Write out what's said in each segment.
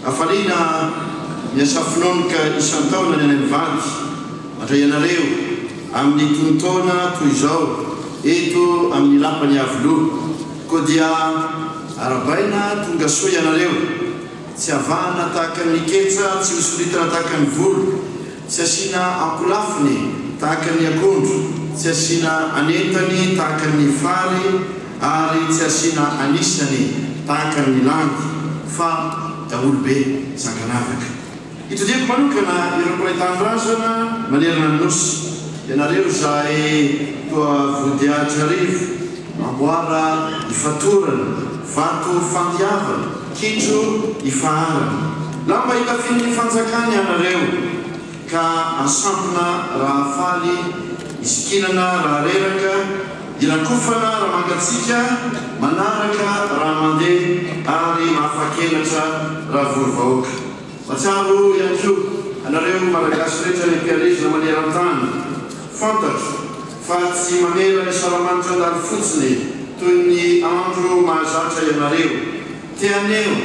Hafaliana ny Asafononoka isan-taona ny any amin'ny vady, mandray anareo amin'ny tonon-taona toy izao eto amin'ny Lapan'i Iavoloha. Koa dia arabaina tonga soa ianareo, tsy avahana tahaka ny ketsa, tsy hosoritana tahaka ny volo, Tsy asiana ankolafiny tahaka ny akondro, tsy asiana an'entany tahaka ny fary ary tsy asiana an'isany tahaka ny landy, fa daholo be sanganavaka. Itodihako manokana ireo mpiray tanindrazana manerana ny Nosy, ianareo izay toa vodiahitra arivo, amboara ifatorana, vato fandiavana, Kitro i Fahanana, lamba itafian'ny fanjakana ianareo ka asampina raha faly, isikinana raha reraka, irakofana raha mangatsiaka, manaraka raha mandeha ary afakelatra raha vory vahoaka. Matsiaro ihany koa anareo Malagasy rehetra any am-pielezana maneran-tany, fantatro. Fa tsy mamela ny salamanitra andalo fotsiny toy ny andro mahazatra ianareo. Te haneho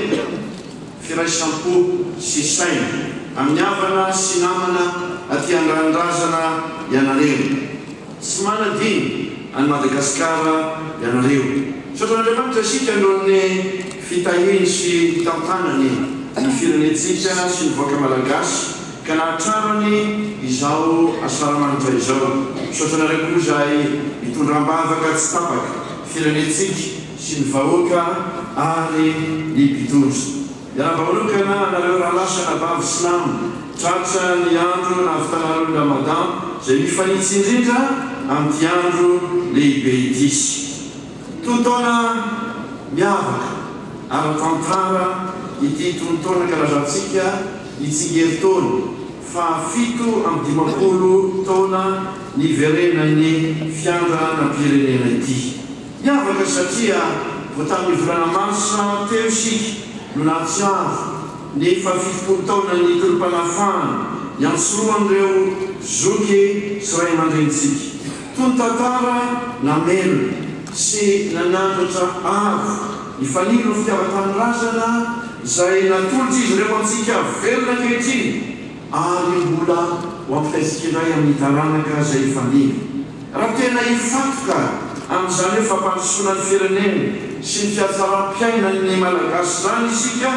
firaisam-po sy saina amin'ny havana sy namana aty andrandrazana ianareo. Tsy manadino an'i Madagasikara ianareo. Misaotran'Andriamanitra isika noho ny fitahiny sy fitantanany ny firenentsika sy ny vahoaka Malagasy. Ka nahatsara ny izao asaramanitra izao. Misaotra anareo koa izay mitondra ambavaka tsy tapaka firenentsika sy ny vahoaka ary ny mpitondra. Miarahaba manokana anareo rahalahy sy anabavy silamo. Tratra ny andro nahavitanareo ny Ramadan izay mifanitsy indrindra amin'ity andro lehibe ity sy. Tonon-taona miavaka ara-tantara ity tonon-taona kalazantsika ny tsingerin-taona fahafito amby dimampolo taona niverenan'ny fiandranan-pirenena ity. Miavaka satria vao tamin'ny volana marsa teo isika no nahatsiaro ny fahafitopolo taonan'ny tolom-panafahana iantsoroan'ireo zoky sy ray aman-drenintsika. Tony tantara namelona sy nanandratra avo ny fanilo ny fitiavan-tanindrazana izay natolotr'izy ireo antsika velona ankehitriny ary mbola ho ampitaintsika indray amin'ny taranaka izay hifanilo. Raha tena hifantoka amin'izany hoe fampandrosoana ny firenena sy ny fiatsaram-piainan'ny Malagasy izany isika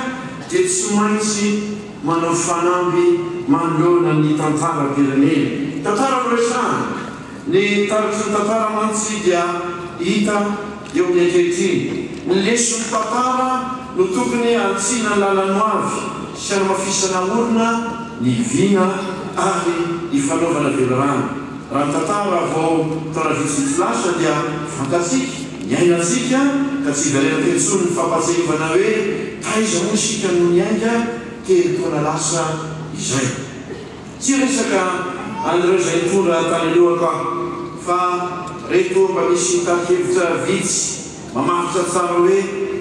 dia tsy maintsy. manao fanamby manoloana ny tantaram-pirenena. Tantara no resahana, ny taratry ny tantara mantsy dia hita eo ny ankehitriny. Ny leson'ny tantara no tokony hantsihina ny lalan'ny ho avy sy hanamafisana orina ny vina ary hifanaovana velirano. Raha ny tantara vao taona vitsivitsy lasa dia fantatsika Niainantsika ka tsy hiverenako intsony ny fampahatsiahivana hoe taiza moa isika no niainga telo taona lasa izay. Tsy hiresaka an'ireo izay nitondra tany alohako aho fa reto mba misy tari-kevitra vitsy mamaritra tsara hoe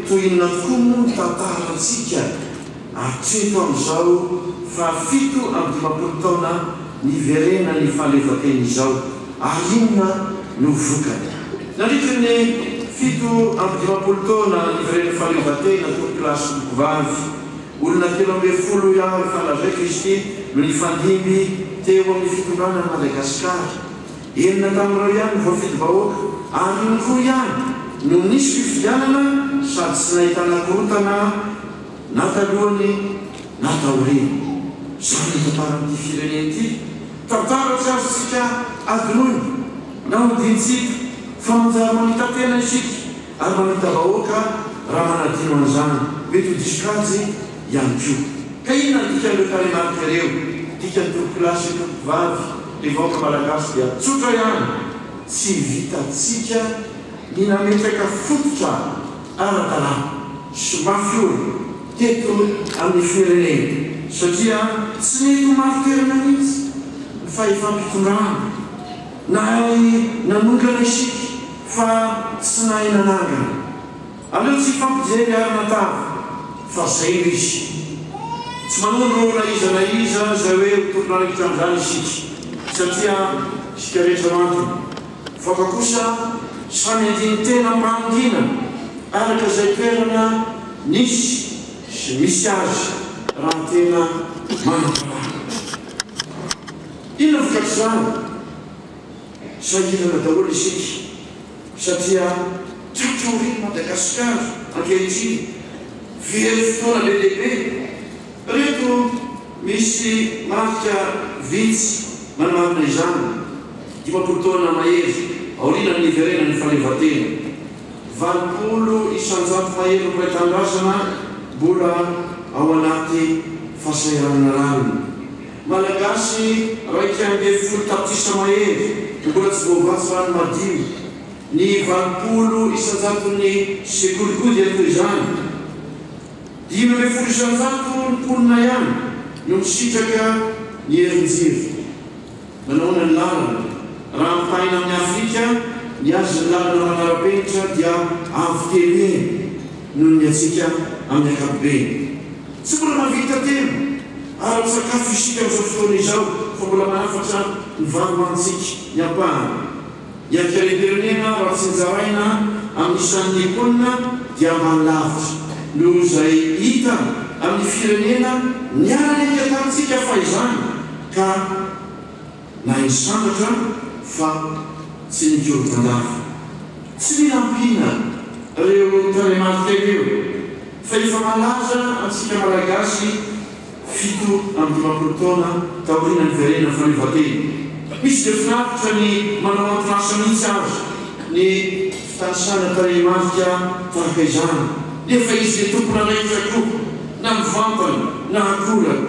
toy inona tokoa moa ny tantarantsika. Hatreto amin'izao, fahafito amby dimampolo taona niverenan'ny fahaleovantena izao, ary inona no vokany? Nandritry ny fito amby dimampolo taona niverenan'ny fahaleovantena, tompokilahy sy tompovavy, olona telo ambin'ny folo ihany ny fandrazay Kristy no nifandimby teo amin'ny fitondrana an'i Madagasikara. Enina tamin'ireo ihany no voafidim-bahoaka, ary indroa ihany no nisy fifidianana sady tsy nahitana korontana. Na talohany na taoriany. Izany no tantaran'ity firenena ity. Tantara tsy azontsika adinoina na hodiantsika fa manjary mamita-tena isika ary mamita-bahoaka raha manadino an'izany. Mety ho diso kajy ihany koa. Ka inona no dikan'ireo tarehimarika ireo? Dikan'ny tompokolahy sy ny tompokovavy, ny vahoaka malagasy dia tsotra ihany, tsy vitantsika ny nametraka fototra ara-dalàna. sy mafy orina teto amin'ny firenena satria tsy mety ho mafy toerana mihitsy ny fahefam-pitondrana nahay nanongana isika fa tsy nahay nanangana. Aleo tsy hifampijery ary natavy fa zay no izy. Tsy manondro na iza na iza zay hoe ho tompon'andraikitra amin'izany isika satria isika rehetra mantona. Faka kosa samy andinin-tena mangina araka izay toerana nisy sy misy azy raha tena manam-panaraka. Inona vokatr'izany? Sahirana daholo isika satria tratry aorian'i Madagasikara ankehitriny very fotoana be dia be. Ireto misy marika vitsy manamarina izany, dimampolo taona mahery aorianan'ny niverenan'ny fahaleovantena, valopolo isan-jato mahery mpiray tanindrazana mbola ao anaty fahasahiranana rariny, Malagasy iraika ambin'ny folo tapitrisa mahery no mbola tsy voavatsy rano madio, ny valopolo isan-jaton'ny sekoly koa dia toy izany. Dimy ambin'ny folo isanjato ny mponina ihany no misitraka ny herin-jiro. Manahoana ny lalana? Raha ampitahaina amin'i Afrika, ny azy ny lalana manara-penitra dia avo telo heny noho ny antsika amin'ny ankapobeny. Tsy mbola mahavita telo ara-tsakafo isika amin'izao fotoana izao fa mbola manafatra ny vary hohanintsika ny ampahany. Ny haterim-pirenena raha tsy nozaraina amin'ny isan'ny mponina dia ambany lavitra noho izay hita amin'ny firenena niara-niaika tamintsika fahizany ka na i Sandratra fa tsy nikorontan-dava. Tsy mila ampiana reo tarehimarika ireo fa efa malaza antsika Malagasy fito amby dimampolo taona taoriana niverenan'ny fahaleovantena. Misy dia finaritra ny manao antin'asa mihitsy aza ny fitanisana tarehimarika tahaka izany, nefa izy dia tompon'andraikitra koa na mivantana na akorany.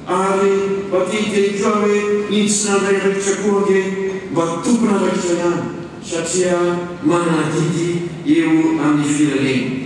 Ary mba te hiteny koa aho hoe ny tsy nandray andraikitra koa ange mba tompon'andraikitra ihany satria manana adidy eo amin'ny firenena.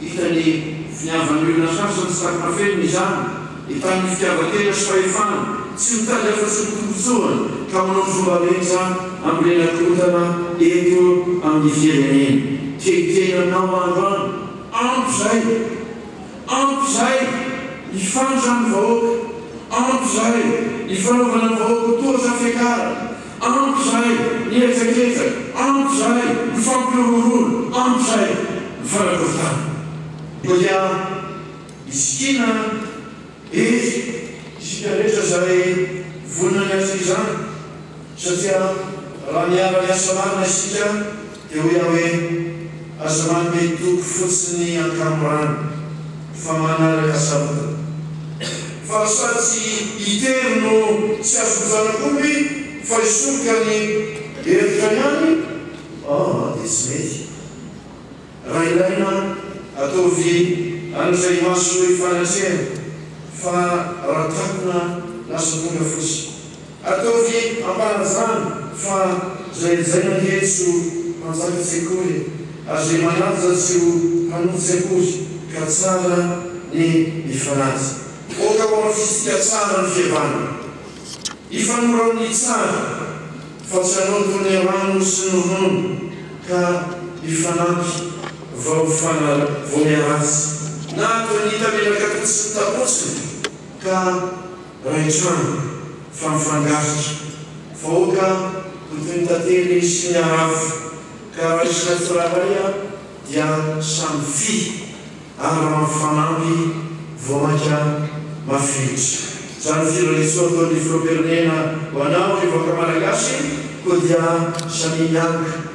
Hita ny finiavan'ny olona sasany sady nafenina izany ny tamin'ny fitiavan-tena sy fahefana tsy mitady afa-tsy ny tombontsoany ka manao ny fomba rehetra hambolena korontana eto amin'ny firenena. Kekiteny aminao andro any. Ampy izay! Ampy izay ny fandran'ny vahoaka! Ampy izay ny fanaovana ny vahoaka ho toa zafiakara! Ampy izay ny hetsaketzaka, ampy izay ny fampihorohoroana, ampy izay ny fanakorontana. Koa dia misy kiana eto isika rehetra izay vonona ny hahazo izany, satria raha miara-miasa marina isika, Teo Yahweh, aza manome toky fotsiny an-kamorana, fa manaraka sabotana. Fa sa tsy itery no tsy azon'ny zanak'omby fa isoroka ny hevitra ihany? Oh, dia tsy mety. Raha ilaina, ataovy an'izay mahasoa ifanatrehana, fa raha takona, lasa tonga fotsiny. Ataovy am-panajana fa zay zay ange tsy ho mpanjaka sekoly e! Azo ry manaja tsy ho mpanompo sekoly ka tsara ny mifanaja. Aoka ho amin'ny fisika tsara ny fihavanana. Hifanoro amin'ny tsara fa tsy hanompo ny rano sy ny ronono ka hifanampy vao fana vao miharatsy na atao ny hita menaka fotsiny tapotsiny ka. Ray trano fa mifangarika, faoka hotoiny tantely sy ny arafo ka raisina tsirairay a dia samy fy ary raha mifanamby vao maika mafilotra. Zany firarisoa ataon'ny filohampirenena ho anao ry vahoaka malagasy koa dia samia mianga.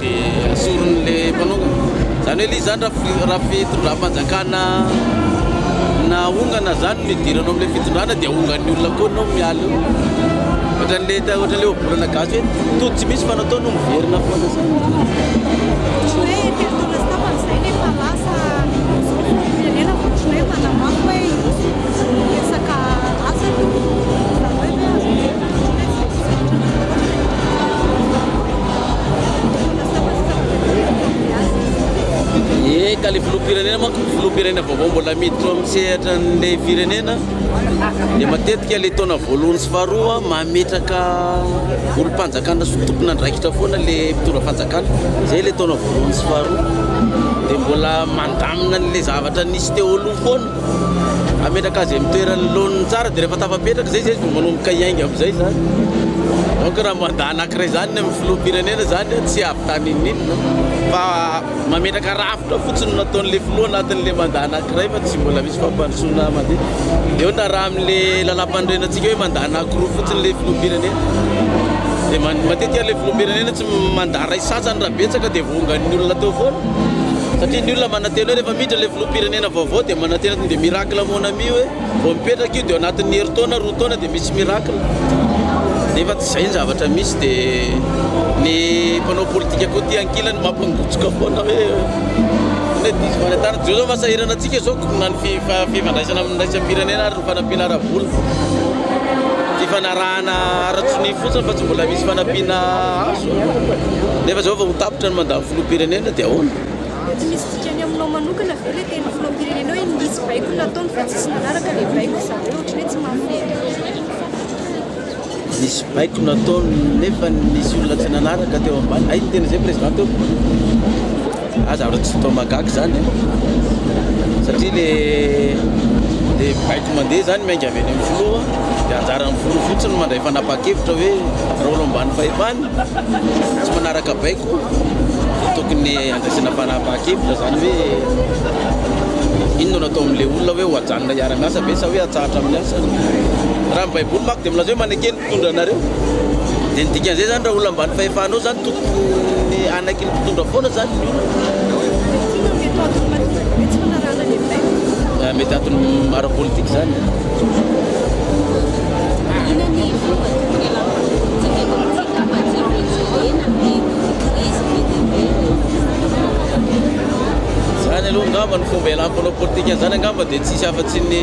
Dia asoriny le mpanongana. Zany hoe lizany raha fitondram-panjakana nahongana zany no idiranao amle fitondrana dia ahongan'ny olona koa anao miala eo. Ohatran'le ohatran'le ohabolana gasy hoe tody tsy misy fa natao no miverina foana zany. Eka, ilay filoham-pirenena manko, filoham-pirenena vaovao mbola miditra ao amin'ny sehatra an'ilay firenena dia matetika ilay taona voalohany sy faharoa mametraka olom-panjakana sy tompon'andraikitra foana ilay mpitondra fanjakana. Izay ilay taona voalohany sy faharoa dia mbola mandamina an'ilay zavatra nisy teo aloha foana. Ametraka azy amin'ny toerany laoniny tsara dia rehefa tafapetraka izay izy vao manomboka hiainga amin'izay izany. Donc raha mandat anankiray izany ny amin'ny filoham-pirenena izany tsy avy tany ininona fa mametraka rafitra fotsiny no nataon'ilay filoha anatin'ilay mandat anankiray fa tsy mbola misy fampandrosoana mandeha. Dia eo na raha amin'ilay lalàmpanorenantsika hoe mandat anankiroa fotsiny ilay filoham-pirenena dia matetika ilay filoham-pirenena Mandat iray sasany raha betsaka dia vongan'ny olona teo foana satria ny olona manantena hoe rehefa miditra ilay filoham-pirenena vaovao dia manantena tonga dia miracle mon ami hoe vao mipetraka io dia ao anatin'ny herintaona roa taona dia misy miracle nefa tsy izay ny zavatra misy dia ny mpanao politika koa ity ankilany mampangotsoka foana hoe hoe diso fanentanana izao izao fasahirana antsika izao na ny fifandraisana amin'ny raisam-pirenena ary ny fanampiana ara-bola fifanarahana Fahafahana ara-tsonia fotsiny fa tsy mbola misy fanampiana azo nefa zao vao tapitra ny mandat filoham-pirenena dia ahoana? Dia tsy misy dikany aminao manokana ve ilay teny filoham-pirenena hoe nisy baiko nataony fa tsisy nanaraka ilay baiko izany hoe ohatran'ny hoe tsy mahafinaritra? Nisy baiko nataony nefa nisy olona tsy nanaraka teo ambany, hay ny teny izay president teo? Za zavatra tsy toa mahagaga zany eh, satria le le baiko mandeha zany miainga avy any amin'ny filoha de anjaran'ny filoha fotsiny no mandray fanapahan-kevitra hoe rôle ambany fahefana tsy manaraka baiko de tokony handraisana fanapahan-kevitra zany hoe inona no atao amin'le olona hoe ho ajanona hiara-miasa ve sa hoe atsahatra amin'ny asany, raha ny baiboly manko de milaza hoe manekena mpitondra anareo dia ny dikan'izay zany raha olona ambany fahefanao zany tokony anaky ny mpitondra foana zany ny olona mety antony ara-politika zany zany aloha angamba ny fomba ialam-panao politika zany angamba dia tsisy afa-tsy ny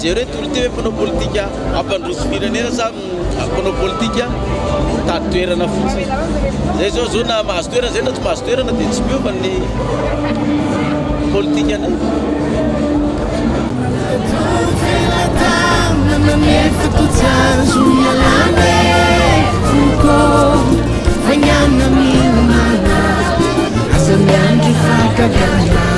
Jereo tolo ity hoe mpanao politika hampandroso firenena sa mpanao politika mitady toerana fotsiny. Izay izao izao na mahazo toerana izay na tsy mahazo toerana dia tsy miova ny politikany. Asa miandry fakagana